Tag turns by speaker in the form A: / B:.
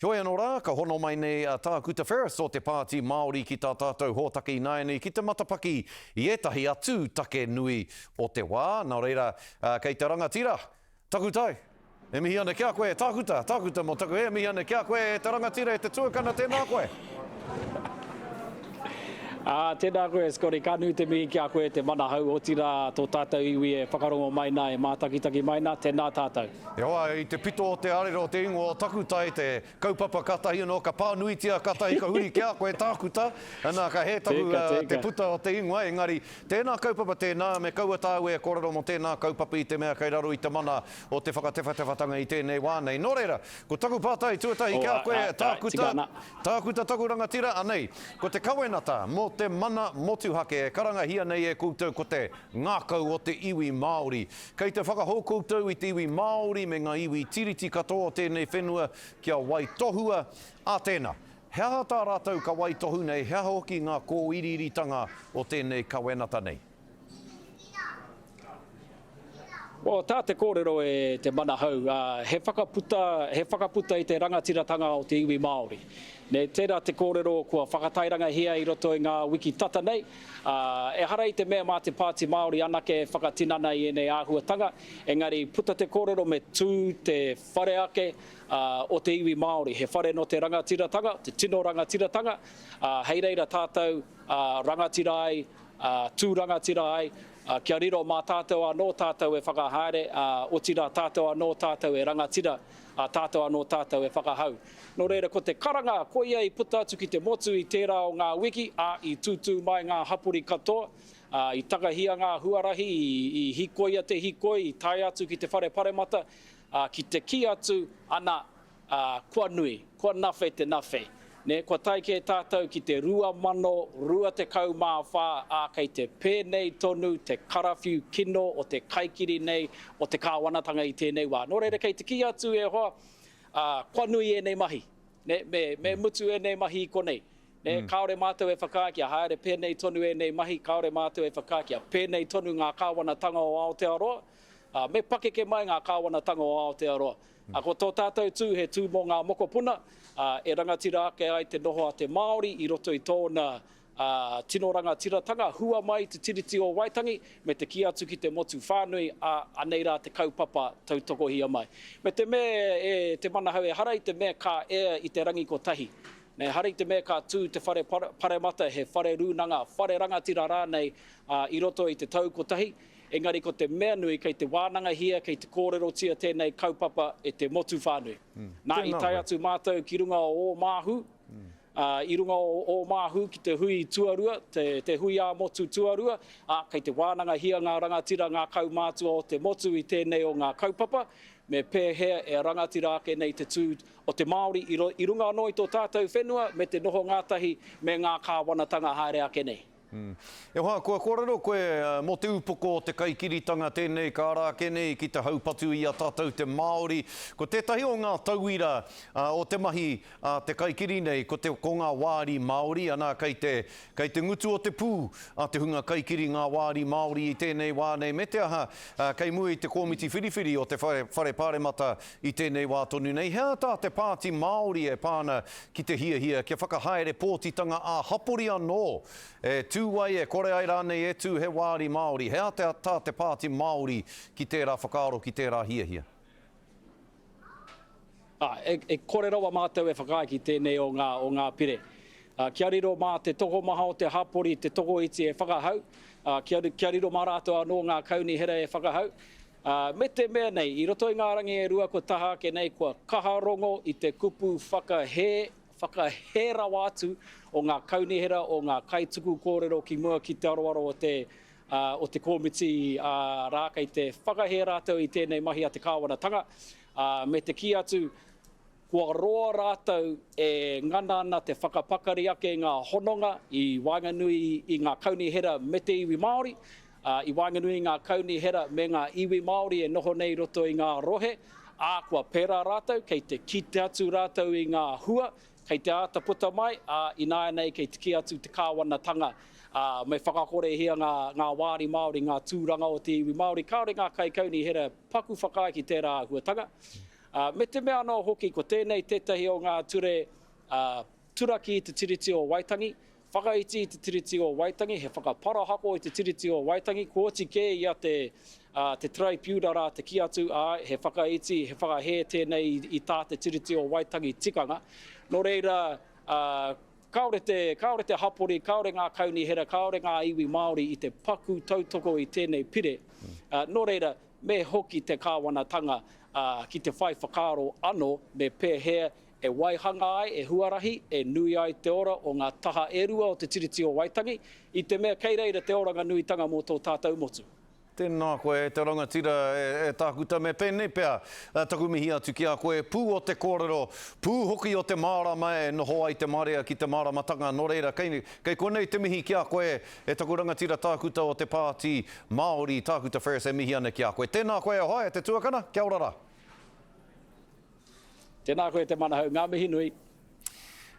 A: Heoi anō rā, ka hono mai nei a Tākuta Ferris o te Pāti Māori ki tā tātou hōtaka ināianei ki te matapaki i ētahi atu take nui o te wā. Nā reira, kei te rangatira takutai. E mihi ana ki a koe, Tākuta, Tākuta mō taku, e mihi ana ki a koe, e te rangatira, e te tuakana, tēnā koe.
B: Ā, tēnā koe, Scotty, ka nui te mihi ki a koe, te manahau, otirā, tō tātou iwi e whakarongo mai nā, e mātakitaki mai nā, tēnā tātou. E hoa, i te
A: pito o te arero o te ingoa o takutai te kaupapa katahi anō ka pānuitia katahi ka huri ki a koe tākuta, nā ka hē taku te puta o te ingoa engari tēnā kaupapa tēnā me kaua tāu e kōrero mō tēnā kaupapa i te mea kei raro i te mana o te whakatewhatewhatanga i tēnei wā nei. Nō reira, ko taku pātai tuatahi ki a koe tākuta, tākuta taku rangatira anei, ko te kawenata mō te mana motuhake e karangahia nei e koutou ko te ngākau o te iwi Māori Kei te whakahou koutou i te iwi Māori me ngā iwi Tiriti katoa o tēnei whenua kia waitohua, ā tēnā, he aha tā rātou ka waitohu nei, he aha hoki ngā kōiriiritanga o tēnei kawenata nei?
B: Well, tā te kōrero e te manahau, he whakaputa, he whakaputa i te rangatiratanga o te iwi Māori. Nei tērā te kōrero kua whakatairangahia i roto i ngā wiki tata nei, Ā, ehara i te mea mā te Pāti Māori anake e whakatinana i ēnei āhuatanga, engari puta te kōrero me tū te whare ake o te iwi Māori, he whare nō te rangatiratanga, te tino rangatiratanga, ā, hei reira tātou rangatira ai, tū rangatira ai, kia riro mā tātou anō tātou e whakahaere, ā, otirā tātou anō tātou e rangatira, ā, tātou anō tātou e whakahau. Nō reira, ko te karanga, koia i puta atu ki te motu i tērā o ngā wiki, ā, i tūtū mai ngā hapori katoa, ā, i takahia ngā huarahi, i hikoia te hikoi, i tae atu ki te whare paremata, ā, ki te kī atu, ana, ā, kua nui, kua nawhe te nawhe. Nē, kua tae kē tātou ki te 2024, ā, kei te pēnei tonu te karawhiu kino o te kaikiri nei, o te kāwanatanga i tēnei wā. Nō reira, kei te kī atu e hoa, Ā, kua nui ēnei mahi. Me, me mutu ēnei mahi i konei. Kāore mātou e whakaae kia haere pēnei tonu ēnei mahi, kāore mātou e whakaae kia pēnei tonu ngā kāwanatanga o Aotearoa. Ā, me pakeke mai ngā kāwanatanga o Aotearoa. Ā, ko tō tātou tū he tū mō ngā mokopuna, ā, e rangatira ake ai te noho a te Māori i roto i tōna Ā, tino rangatiratanga hua mai i te Tiriti o Waitangi me te kī atu ki te motu whānui, ā, anei rā te kaupapa tautokohia mai. Me te mea e te manahau ehara i te mea ka ea i te rangi kotahi. Nei, ehara i te mea ka tū te whare paremata he whare rūnanga, whare rangatira rānei, ā, i roto i te tau kotahi, engari ko te mea nui kei te wānangahia, kei te kōrerotia tēnei kaupapa e te motu whānui. Nā, i tae atu mātou ki runga o Ōmāhu, ā, i runga o Ōmāhu ki te hui tuarua, te, te hui ā-motu tuarua, ā, kei te wānangahia ngā rangatira ngā kaumātua o te motu i tēnei o ngā kaupapa, me pēhea e rangatira ake nei te tū o te Māori i, i runga anō i tō tātou whenua me te noho ngātahi me ngā kāwanatanga haere ake nei. E hoa,
A: kua kōrero koe mō te upoko o te kaikiritanga tēnei ka ara ake nei ki te haupatu i a tātou te Māori. Ko tētahi o ngā tauira o te mahi a te kaikiri nei, ko te, ko ngā wāri Māori, ana, kei te, kei te ngutu o te pū a te hunga kaikiri ngā wāri Māori i tēnei wā nei, me te aha, kei mua i te kōmiti whiriwhiri o te Whare, Whare Pāremata I tēnei wā tonu nei, he aha tā te Pāti Māori e pā ana ki te hiahia kia whakahaere pōtitanga ā-hapori anō? E tū ai, e kore ai rānei e tū he wāri Māori? He aha tā te Pāti Māori ki tērā whakaaro, ki tērā hiahia?
B: E kore rawa mātou e whakaae ki tēnei o ngā pire. Kia riro mā te tokomaha o te hapori te tokoiti e whakahau, kia riro mā rātou anō ngā kaunihera e whakahau. Ā, me te mea nei, i roto i ngā rangi e rua kua taha ake nei, kua kaha rongo i te kupu whakahē, whakahē rawa atu o ngā kaunihera, o ngā kaituku kōrero ki mua ki te aroaro o te, ā, o te kōmiti, ā, rā, kei te whakahē rātou i tēnei mahi a te kāwanatanga, ā, me te kī atu, Kua roa rātou e ngana ana te whakapakari ake i ngā hononga i waenganui i ngā kaunihera me te iwi Māori, ā, i waenganui i ngā kaunihera me ngā iwi Māori e noho nei i roto i ngā rohe, ā, kua pērā rātou, kei te kite atu rātou i ngā hua kei te āta puta mai, ā, ināianei kei te kī atu te kāwanatanga, ā, me whakakorehia ngā, ngā wāri Māori, ngā tūranga o te iwi Māori. Kāore ngā kaikaunihera paku whakaae ki tērā āhuatanga. Ā, me te mea anō hoki ko tēnei tētahi o ngā ture, ā, turaki i te Tiriti o Waitangi, whakaiti i te Tiriti o Waitangi, he whakaparahako i te Tiriti o Waitangi, kua oti kē i a te, ā, te Taraipiuna rā te kī atu, āe, he whakaiti, he whakahē tēnei i, i tā te Tiriti o Waitangi tikanga. Nō reira, ā, kāore te, kāore te hapori, kāore ngā kaunihera, kāore ngā iwi Māori i te paku tautoko i tēnei pire. Ā, nō reira, me hoki te Kāwanatanga ki te whai whakaaro anō me pēhea e waihanga ai, e huarahi, e nui ai te ora o ngā taha e rua o Te Tiriti o Waitangi, i te mea kei reira te oranga nuitanga mō tō tātou motu. Tēnā koe e
A: te rangatira, e Tākuta, me pēnei pea taku mihi atu ki a koe, pū o te kōrero, pū hoki o te mārama e noho ai te marea ki te māramatanga, nō reira, kei konei te mihi ki a koe, E taku rangatira tākuta o te Pāti Māori, Tākuta Ferris, e mihi ana ki a koe. Tēnā koe e hoa, e te tuakana, kia ora
B: rā. Tēnā koe
A: te
B: manahau, ngā
A: mihi
B: nui.